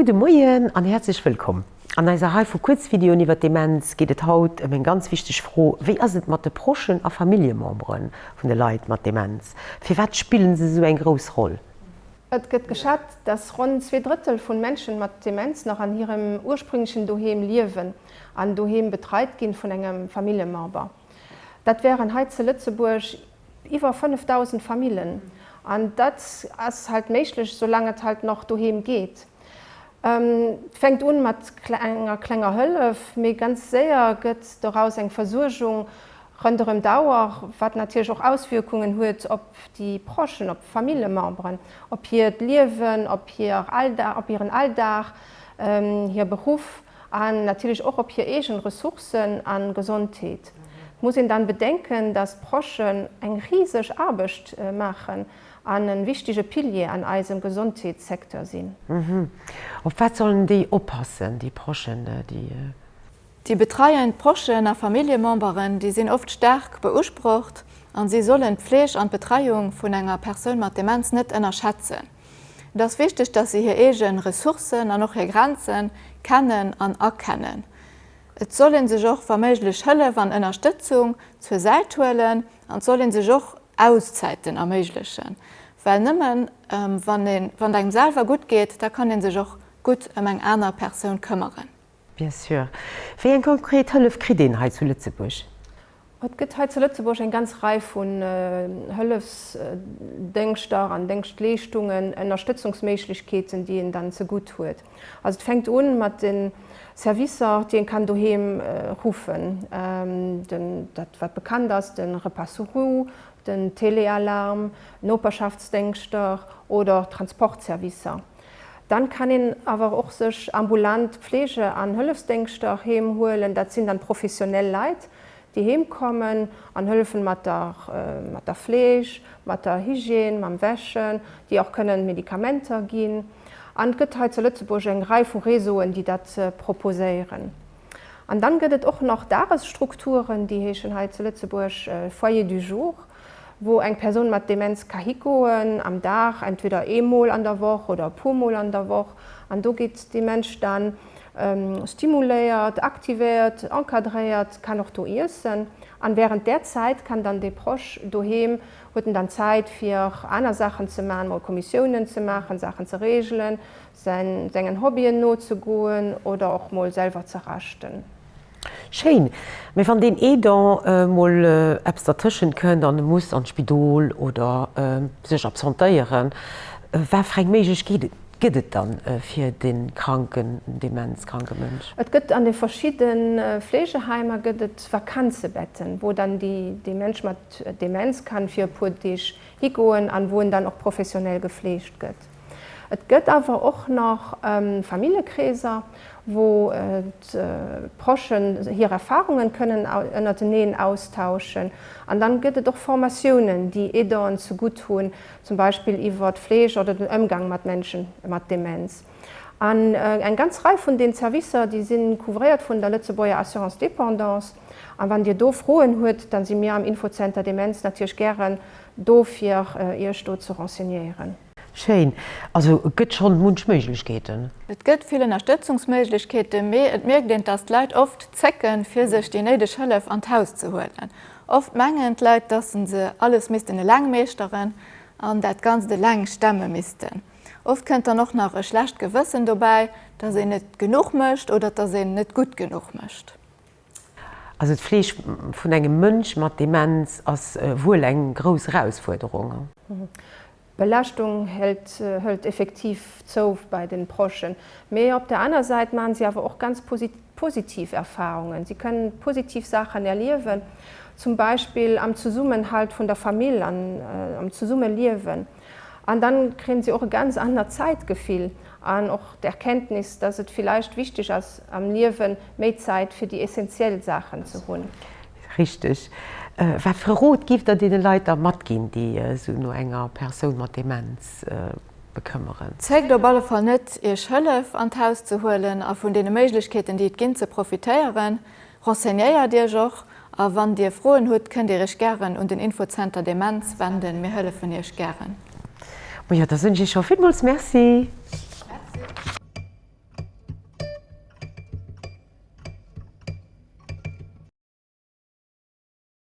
Gudde Moien an häerzlech wëllkomm! An eiser Rei vu Kuerzvideoen iwwer d'Demenz geet et haut ëm eng ganz wichteg Fro, Wéi ass et mat de Prochen a Familljemembere vun de Leit mat Demenz? Firwat spillen se esou eng grouss Roll? Et gëtt geschat, dass ronn zwee Drëttel vun Menschen mat Demenz nach an hirem ursprünglechen Doheem liewen an doheem betreit ginn vun engem Familljemember. Dat wären hei ze Lëtzebuerg Iwwer 5.000 Famillen. An dat ass halt méiglech, soulaang et halt nach doheem geet. Et fänkt un mat enger klenger Hëllef, mee ganz séier gëtt doraus eng Versuergung ronderëm d'Auer, wat natierlech och Auswierkungen huet op déi Prochen, op d'Famillememberen, op hiert Liewen, op hiren Alldag, hir Beruff. An natierlech och op hir eegen Ressourcen a Gesondheet. Et muss een dann bedenken, datt d'Proschen eng riseg Aarbecht maachen an e wichtige Pilier an eisem Gesondheetssecteur sinn. Op wat sollen déi oppassen, déi Proschen, déi. Déi betreiend Proschen a Familljememberen, déi sinn oft staark beusprocht an si sollen d'Fleeg an d'Betreiung vun enger Persoun mat Demenz net ënnerschätzen. Et ass wichteg, dass se hir eege Ressourcen an och hir Grenze kennen an erkennen. Et soll ee sech och wa méiglech Hëllef an Ënnerstëtzung zur Säit huelen an et soll ee sech och Auszäiten erméiglechen, well nëmme wann et engem selwer gutt geet, da kann ee sech och gutt ëm eng aner Persoun këmmeren. Bien sûr. Wéi eng konkret Hëllef kritt een hei zu Lëtzebuerg? Et gëtt hei zu Lëtzebuerg eng ganz Rei vun Hëllefsdéngschter an Déngschtleeschtungen, Ënnerstëtzungsméiglechkeeten, déi een dann zegutt huet. Also et fänkt u mat de Servicer, déi ee kann doheem ruffen. Den, dat wat bekannt ass, de Repas sur roues, den Téléalarme, Noperschaftsdéngschter oder och Transportservicer. Dann kann een awer och sech ambulant Pflege an Hëllefsdéngschter heem huelen. Dat sinn dann professionell Leit, déi heem kommen an hëllefen mat der mat der Fleeg, mat der Hygiène, mam Wäschen, déi och kënnen Medikamenter ginn. An et gëtt hei zu Lëtzebuerg eng Rei vu Réseauen, déi dat proposéieren. An dann gëtt et och nach Dagesstrukturen, déi heeschen hei zu Lëtzebuerg Foyer du jour. wou eng Persoun mat Demenz ka higoen am Dag, entweder ee Mol an der Woch oder e puer Mol an der Woch, an do gétt dee Mënsch da stimuléiert, aktivéiert, encadréiert, kann och do iessen. An während där Zäit kann dann dee Proche doheem, huet en dann Zäit fir aner Saachen ze maachen, mol Kommissiounen ze maachen, Saachen ze regelen, sengen Hobbyen nozegoen oder och mol selwer ze raschten. Schéin, mee wann deen Aidant mol eppes dertëschent kënnt an e muss an d'Spidol oder sech absentéieren, wat fir eng Méiglechkeet gëtt et dann fir dee kranken, demenzkranke Mënsch? Et gëtt an de verschidde Fleegeheimer gëtt et Vakanzebetten, wou dann dee Mënsch mat Demenz kann fir e puer Deeg higoen an wou en dann och professionell gefleegt gëtt. Et gëtt awer och nach Famillekreeser, wou d'Prochen hir Erfarungen kënnen ënnerteneen austauschen. An dann gëtt et och Formatiounen, déi Aidant'en ze gutt hunn, zum Beispill iwwer d'Fleeg oder den Ëmgang mat Menschen mat Demenz. An eng ganz Rei vun den Servicer, déi sinn couvréiert vun der Lëtzebuerger Assurance Dépendance. An wann Dir do Froen hutt, dann si mir am Infozenter Demenz natierlech gären do fir iech do ze renseignéieren. Schéin, also et gëtt schonn munch Méiglechkeeten. Et gëtt vill Ënnerstëtzungsméiglechkeeten, mee et mierkt een, dass d'Leit oft zécken, fir sech déi néideg Hëllef an d'Haus ze huelen. Oft mengen d'Leit, dass se se alles missten eleng meeschteren an dat Ganzt eleng stemme missten. Oft kënnt dann och nach e schlecht Gewëssen dobäi, dass een net genuch mécht oder dass een net gutt genuch mécht. Also d'Fleeg vun engem Mënsch mat Demenz ass wuel eng grouss Erausfuerderung. D'Belaaschtung hëlt effektiv zou bei de Prochen, mee op der aner Säit maachen si awer och ganz positiv Erfarungen. Si kënnen positiv Saachen erliewen, zum Beispill am Zesummenhalt vun der Famill an am Zesummeliewen. An dann kréien sie och e ganz anert Zäitgefill an och d'Erkenntnis, dass et villeicht wichtig ass am Liewen méi Zäit fir déi essentiel Saachen ze hunn. Richteg. Wat fir e Rot giff der deene Leit da matginn, déi sou no enger Persoun mat Demenz bekëmmeren? Zéckt op alle Fall net, iech Hëllef an d'Haus ze huelen a vun deene Méiglechkeeten, déi et ginn, ze profitéieren. Renseignéiert Iech och a wann Dir Froen hutt, kënnt Dir Iech gären un den Infozenter Demenz wenden. Mir hëllefen Iech gären. Majo, da soen ech Iech scho villmools Merci. Merci.